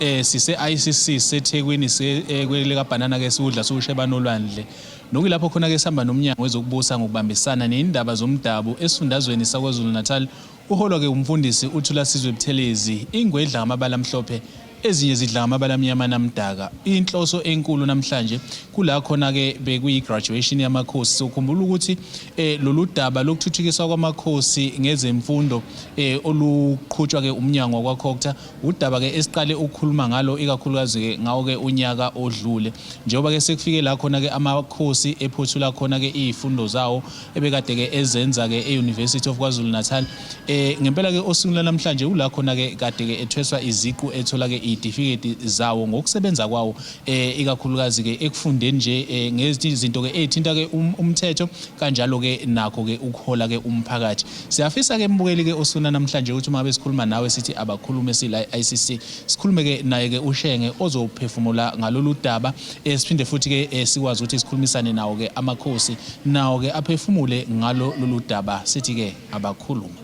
eh sise-ICC seThekwini eh, kwelikaBhanana ke siwudla siwusheba nolwandle nokuyilapho khona ke sihamba nomnyango wezokubusa ngokubambisana neyindaba zomdabu esifundazweni saKwaZulu-Natal uholwa ke umfundisi uThulasizwe Buthelezi ingwedla ngamabala amhlophe ezinye zidla ngamabala amnyama namdaka inhloso enkulu namhlanje kula khona ke bekuyi-graduation yamakhosi sokhumbula ukuthi eh, lolu daba lokuthuthukiswa kwamakhosi ngezemfundo eh, oluqhutshwa ke umnyango wakwakhokta Udaba ke esiqale ukukhuluma ngalo ikakhulukazi ke ngawo ke unyaka odlule njengoba ke sekufike la khona ke amakhosi ephothula khona ke izifundo zawo ebekade ke ezenza ke e-University of KwaZulu Natal eh ngempela ke osuku namhlanje ula khona ke kade ke ethweswa iziqu ethola ke izitifikethi zawo ngokusebenza kwawo eh ikakhulukazi ke ekufundeni nje eh, ngezinto ke ezithinta ke um, umthetho kanjalo ke nakho ke ukuhola ke umphakathi Siyafisa ke mbukeli ke usuna namhlanje ukuthi uma besikhuluma nawe sithi abakhulume sila ICC sikhulume ke naye ke ushenge ozophefumula ngalolu daba eh, siphinde futhi ke eh, sikwazi ukuthi sikhulumisane nawo ke amakhosi nawo ke aphefumule ngalo lolu daba sithi ke abakhulume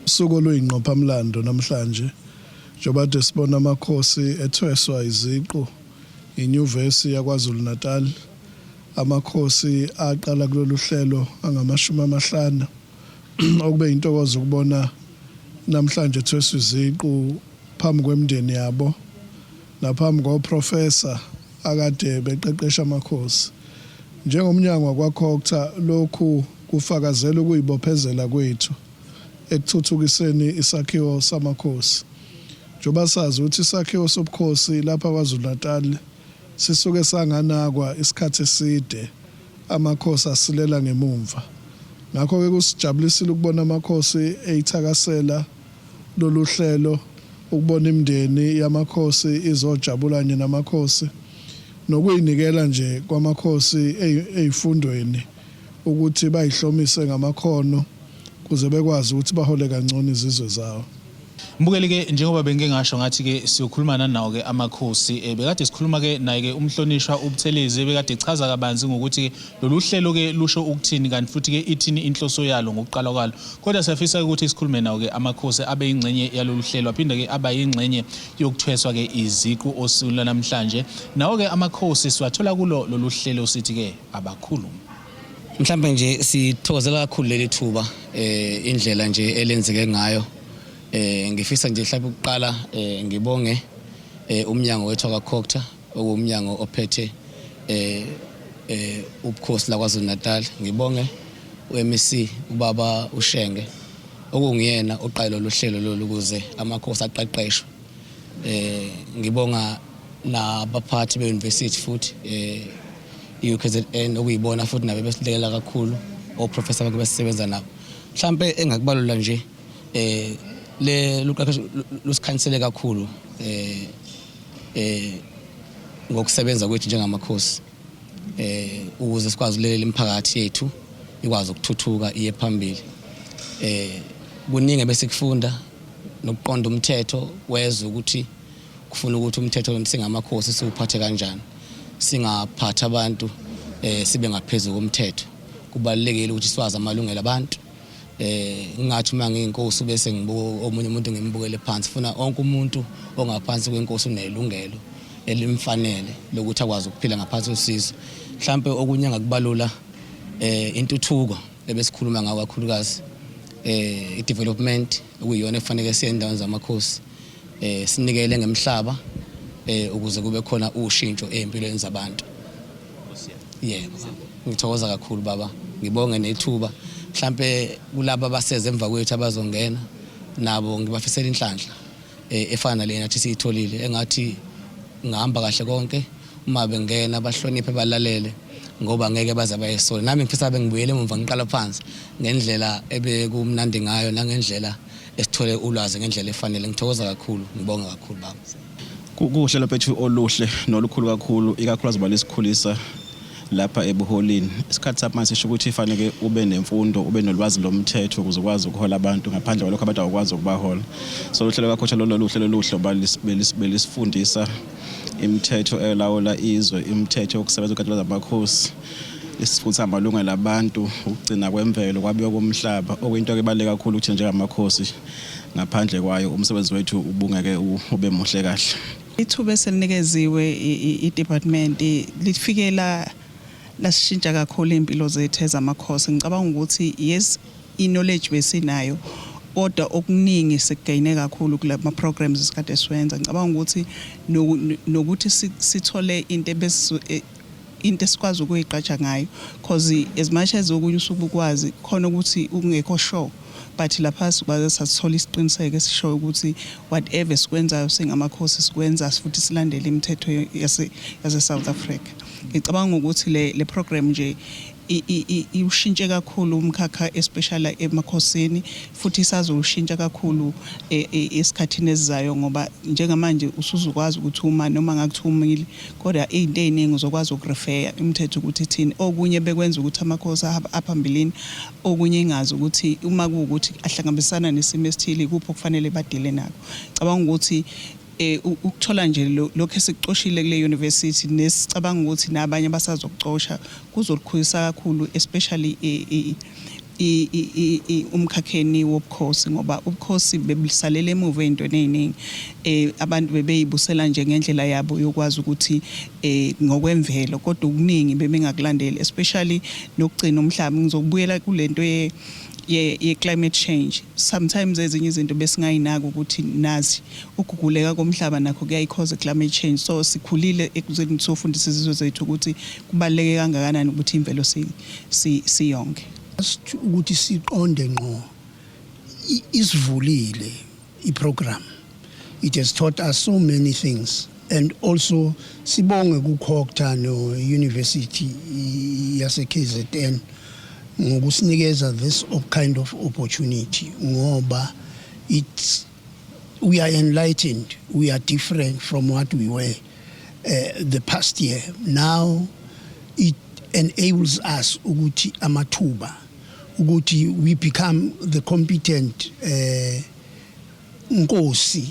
usuku oluyingqophamlando namhlanje njengoba kade sibona amakhosi ethweswa iziqu inyuvesi yakwazulu-natal amakhosi aqala kulolu hlelo angamashumi amahlanu okube intokozo ukubona namhlanje thweswa iziqu phambi kwemndeni yabo naphambi koprofesa akade beqeqesha amakhosi. NjengoMnyango wakwaCogta lokhu kufakazela ukuyibophezela kwethu ekuthuthukiseni isakhiwo samakhosi njengoba sazi ukuthi isakhiwo sobukhosi lapha KwaZulu-Natal sisuke sanganakwa isikhathi eside Amakhosi asilela ngemumva. Ngakho-ke kusijabulisile ukubona Amakhosi eithakasela lolu hlelo, ukubona imindeni yaMakhosi izojabula kanye naMakhosi, nokuyinikela nje kwaMakhosi eifundweni ukuthi bayihlomise ngamakhono, kuze bekwazi ukuthi bahole kangcono izizwe zawo. Mbukeli ke njengoba bengike ngasho ngathi ke siyokhuluma nanawo ke amakhosi eh, bekade sikhuluma ke naye ke umhlonishwa ubuthelezi bekade echaza kabanzi ngokuthi ke lolu hlelo ke lusho ukuthini kanti futhi ke ithini inhloso yalo ngokuqala kwalo kodwa siyafisa ukuthi sikhulume nawo ke amakhosi abe ingxenye yalolu hlelo aphinde ke aba ingxenye yokuthweswa ke iziqu osuku lanamhlanje nawo ke amakhosi siwathola kulo lolu hlelo sithi ke abakhulume Mhlambe nje sithokozela kakhulu leli thuba eh indlela nje elenzeke ngayo eh ngifisa nje mhlawumbe ukuqala eh ngibonge eh umnyango wethu akaCocta okuwumnyango ophethe eh eh ubukhosi laKwaZulu Natal ngibonge uMC ubaba uShenge okungiyena oqale lolu hlelo lolu kuze amakhosi aqeqeshwe Eh ngibonga nabaphathi be-university futhi eh i-UKZN okuyibona futhi nabe besilekelela kakhulu oprofessor bakhe besisebenza nabo mhlampe engakubalula nje eh le luqeqesho lusikhanisele kakhulu eh eh ngokusebenza kwethu njengamakhosi eh ukuze sikwazi ulelela imiphakathi yethu ikwazi ukuthuthuka iye phambili eh kuningi ebesikufunda nokuqonda umthetho wezwe ukuthi kufuna ukuthi umthetho singamakhosi siwuphathe kanjani singaphathi abantu eh sibe ngaphezulu komthetho kubalulekile ukuthi siwazi amalungelo abantu eh ngathi uma ngiyinkosi bese ngibuka omunye umuntu ngimbukele phansi funa onke umuntu ongaphansi kwenkosi unelungelo elimfanele lokuthi akwazi ukuphila ngaphansi kwesizo mhlambe okunye ngakubalula eh intuthuko ebesikhuluma ngayo kakhulukazi eh i-development okuyiyona efanele siye endaweni zamakhosi eh sinikele ngemhlaba eh ukuze kube khona ushintsho empilweni zabantu Yebo, ngithokoza kakhulu baba, ngibonge nethuba mhlampe kulabo abaseze emva kwethu abazongena nabo ngibafisela inhlanhla eh, efana nale nathi siyitholile engathi ngihamba kahle konke uma bengena bahloniphe balalele ngoba ngeke baze bayesole nami ngifisa bengibuyele emumva ngiqala phansi ngendlela ebekumnandi ngayo nangendlela esithole ulwazi ngendlela efanele ngithokoza kakhulu ngibonga kakhulu baba kuhle laphethu oluhle nolukhulu kakhulu ikakhulu azoba lesikhulisa lapha ebuholini isikhathi sapha sisho ukuthi fanele ube nemfundo ube nolwazi lomthetho ukuze ukwazi ukuhola abantu ngaphandle kwalokho abantu awukwazi ukubahola so uhlelo lwakhotha lolu luhlelo luhle uba belisifundisa imithetho elawula izwe imithetho yokusebenza kukatshela zamakhosi isifutha amalungelo abantu ukugcina kwemvelo kwabiwa komhlaba okuyinto ebaluleke kakhulu ukuthi njengamakhosi ngaphandle kwayo umsebenzi wethu ubungeke ube muhle kahle ithuba eselinikeziwe i-department lifikela lasishintsha kakhulu impilo zethu ezamakhosi ngicabanga ukuthi yes i-knowledge besinayo kodwa okuningi sekugaine kakhulu kulama programs esikade siwenza ngicabanga ukuthi nokuthi sithole into into esikwazi ukuyigqaja ngayo cause as much as okunye usuke ukwazi khona ukuthi ukungekho sure but lapha sibaze sathola isiqiniseko esishoyo ukuthi whatever sikwenzayo singamakhosi sikwenza futhi silandele imithetho yase South Africa ngicabanga ukuthi le le program nje iwushintshe kakhulu umkhakha especially emakhosini futhi isazowushintsha kakhulu e, e, esikhathini esizayo ngoba njengamanje usuzukwazi ukuthi uma noma ngakuthi umile kodwa izinto eziningi uzokwazi ukurefeya imithetho ukuthi thini okunye bekwenza ukuthi amakhosi aphambilini okunye ingazi ukuthi uma kuwukuthi ahlangabezana nesimo esithile kuphi okufanele badile nako cabanga ukuthi Eh, ukuthola nje lokho esikucoshile kule university nesicabanga ukuthi nabanye abasazokucosha kuzolukhulisa kakhulu especially umkhakheni wobukhosi ngoba ubukhosi bebusalele emuva ezintweni eziningi eh abantu bebeyibusela nje ngendlela yabo yokwazi ukuthi eh ngokwemvelo kodwa okuningi bebengakulandeli especially nokugcina umhlaba ngizokubuyela kulento ye ye climate change sometimes ezinye izinto besingayinaki ukuthi nazi Ukuguguleka komhlaba nakho kuyayikhoza i-climate change. So sikhulile ekuzeni sofundisa izizwe zethu ukuthi kubaluleke kangakanani ukuthi imvelo si, si, siyonge. Just ukuthi siqonde ngqo i- isivulile iprogram. It has taught us so many things and also sibonge kukhokta no-university i- yase-KZN ngokusinikeza this op- kind of opportunity ngoba it's We are enlightened. We are different from what we were uh, the past year. Now it enables us ukuthi amathuba ukuthi we become the competent uh, nkosi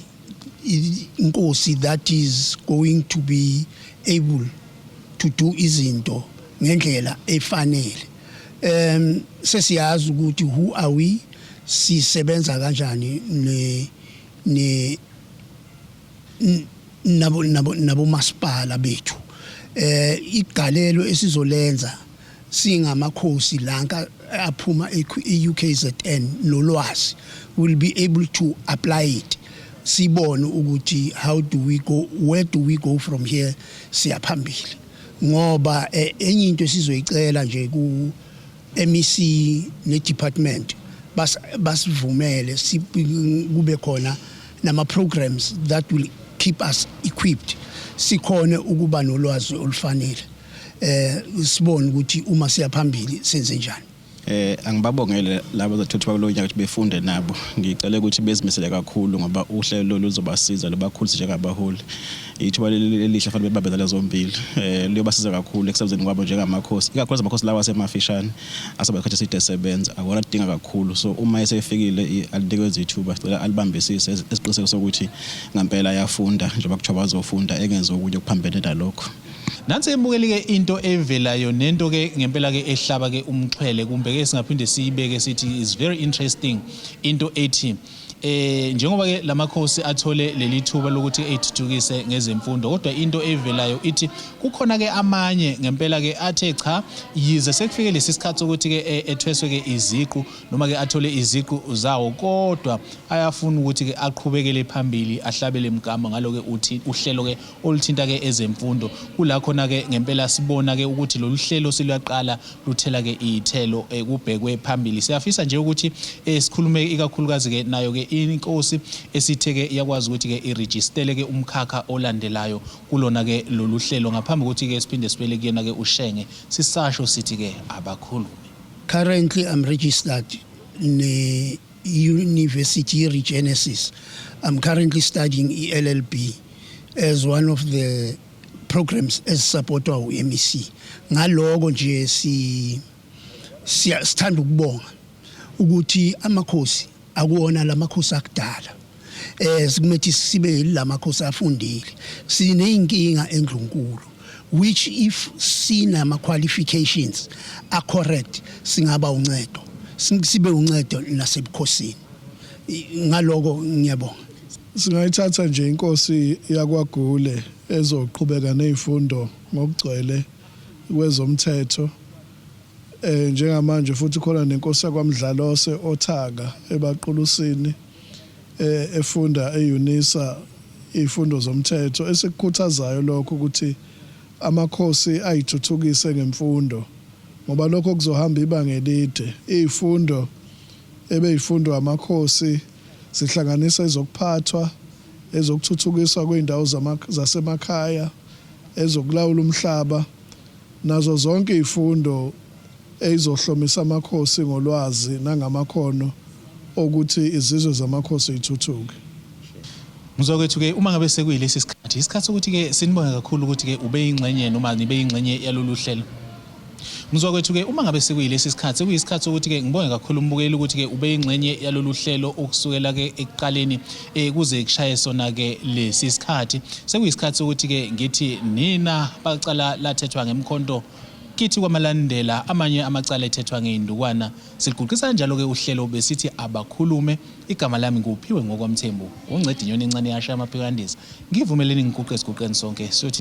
inkosi that is going to be able to do izinto ngendlela efanele um sesiyazi ukuthi who are we sisebenza kanjani ne ne nabo nabo nabo masipala bethu eh igalelo esizolenza singamakhosi lanka aphuma e-UKZN nolwazi will be able to apply it sibone ukuthi how do we go where do we go from here siyaphambili ngoba eh, enye into esizoyicela nje ku MEC neDepartment bas, basivumele si, kube khona nama-programs that will keep us equipped sikhone ukuba nolwazi olufanele eh sibone ukuthi uma siya phambili senze njani eh angibabongele labo zathuthu bakulonyaka ukuthi befunde nabo ngicela ukuthi bezimisele kakhulu ngoba uhlelo lolu luzobasiza lobakhulise njengabaholi ithuba leli elihle fanele bebambezane zombili um liyobasiza kakhulu ekusebenzeni kwabo njengamakhosi ikakhulukazi amakhosi lawa asemafishane asobe isikhathi eside esebenza akona kudinga kakhulu so uma esefikile i- alinikwenza ithuba sicela alibambisise esi- esiqiniseko sokuthi ngampela ayafunda njengoba kuthiwa bazofunda engenzi okunye okuphambene nalokho Nansi ebukeli ke into evelayo nento ke ngempela ke ehlaba ke umxhwele kumbe ke singaphinde siyibeke sithi is very interesting into ethi Eh njengoba ke lamakhosi athole leli thuba lokuthi ethuthukise ngezemfundo kodwa into evelayo ithi kukhona ke amanye ngempela ke athe cha yize sekufike lesi sikhathi ukuthi ke e, ethweswe ke iziqu noma ke athole iziqu zawo kodwa ayafuna ukuthi ke aqhubekele phambili ahlabele mgama ngalo ke uthi uhlelo ke oluthinta ke ezemfundo kula khona ke ngempela sibona ke ukuthi lolu hlelo siluyaqala luthela ke iyithelo eh, kubhekwe phambili siyafisa nje ukuthi eh, sikhulume ikakhulukazi ke nayo ke inkosi esithe ke yakwazi ukuthi ke iregistele ke umkhakha olandelayo kulona ke lolu hlelo ngaphambi kokuthi ke siphinde sibele kuyena ke ushenge sisasho sithi ke abakhulume currently i'm registered ne University yeRegenesis. I'm currently studying i-LLB as one of the programs ezisupportwa u-MEC. Ngaloko nje si sithanda ukubonga ukuthi amakhosi akuwona lamakhosi akudala eh sikumethi sibe yilamakhosi afundile sineyinkinga endlunkulu which if sinama qualifications a correct singaba uncedo sibe uncedo nasebukhosini ngaloko ngiyabonga singayithatha nje inkosi yakwagule ezoqhubeka nezifundo ngokugcwele kwezomthetho eh njengamanje futhi khona nenkosi yakwamdlalose othaka ebaqulusini efunda e-Unisa izifundo zomthetho. Esikukhuthazayo lokho ukuthi amakhosi ayithuthukise ngemfundo ngoba lokho kuzohamba ibanga elide. Izifundo ebeyifundwa amakhosi zihlanganisa ezokuphathwa, ezokuthuthukiswa kwezindawo zasemakhaya, ezokulawula umhlaba Nazo zonke izifundo ezizohlomisa amakhosi ngolwazi nangamakhono okuthi izizwe zamakhosi zithuthuke. Muzwa kwethu-ke uma ngabe sekuyilesi sikhathi, yisikhathi sokuthi-ke sinibonge kakhulu ukuthi-ke ubeyingxenye noma nibe yingxenye yalolu hlelo. Muzwa kwethu-ke uma ngabe sekuyilesi sikhathi, sekuyisikhathi sokuthi-ke ngibonge kakhulu umbukeli ukuthi-ke ubeyingxenye yalolu hlelo ukusukela-ke ekuqaleni. eh, kuze kushaye sona ke lesi sikhathi sekuyisikhathi sokuthi ke ngithi nina bacala lathethwa ngemkhonto kithi kwamalandela amanye amacala ethethwa ngeyindukwana siguqisa njalo ke uhlelo besithi abakhulume igama lami nguphiwe ngokwamthembu ungcedinyoni incane yasha amaphikandisa Ngivumeleni ngiguqe siguqeni sonke siyothi